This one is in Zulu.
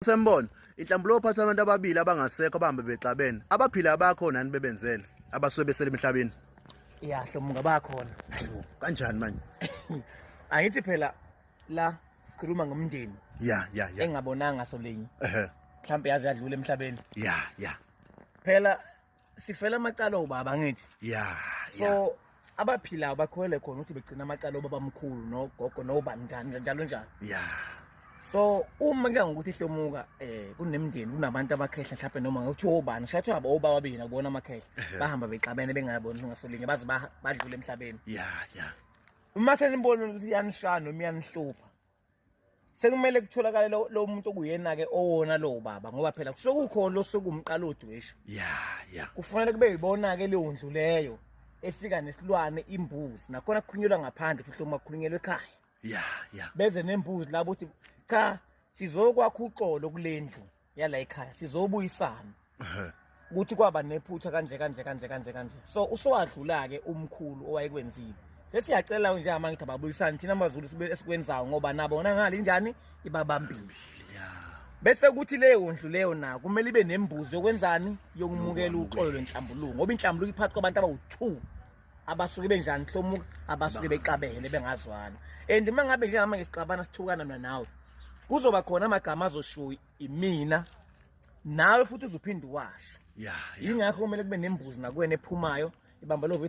Sembona inhlambulo ophatha abantu ababili abangasekho abahambe bexabene abaphila abakho nani bebenzele abasuke besele emhlabeni ya hlomunga bakhona kanjani manje angithi phela la sikhuluma ngomndeni ya ya ya engabonanga solinye ehe mhlawumbe yazi yadlula emhlabeni ya ya phela sifela amacala obaba ngithi yeah so yeah. abaphilayo bakholele khona ukuthi begcina amacala obaba mkhulu nogogo nobani njani njalo njalo yeah so uma ke ngokuthi ihlomuka eh kunemndeni kunabantu abakhehla mhlawumbe noma ngokuthi obani shathi abo obaba babina kubona amakhehla bahamba bexabene bengayaboni ngasolinye baze badlule emhlabeni yeah yeah uma senibona ukuthi yanishana noma yanihlupha sekumele kutholakale lo lo muntu okuyena ke owona lo baba ngoba phela kusokukhona lo sokumqala odweshu yeah yeah kufanele kube yibona ke leyo ndlu leyo efika nesilwane imbuzi nakhona kukhulunyelwa ngaphandle futhi uma kukhulunyelwa ekhaya yeah yeah beze nembuzi labo uthi cha sizokwakha uxolo kulendlu yala ekhaya sizobuyisana ukuthi kwaba nephutha kanje kanje kanje kanje kanje so usowadlula ke umkhulu owayekwenzile sesiyacela nje amangithi ababuyisane thina amazulu sibe esikwenzayo ngoba nabo bona ngale njani ibabambile bese kuthi leyo ndlu leyo na kumele ibe nembuzi yokwenzani yokumukela uxolo lwenhlambuluko ngoba inhlambuluko iphathi kwabantu abawu2 abasuke benjani hlomuka abasuke bexabene bengazwana and uma ngabe njengama ngesixabana sithukana mina nawe kuzoba khona amagama azoshuyi imina nawe futhi uzophinde uwasho yingakho kumele kube nembuzi nakuwena ephumayo ibamba lo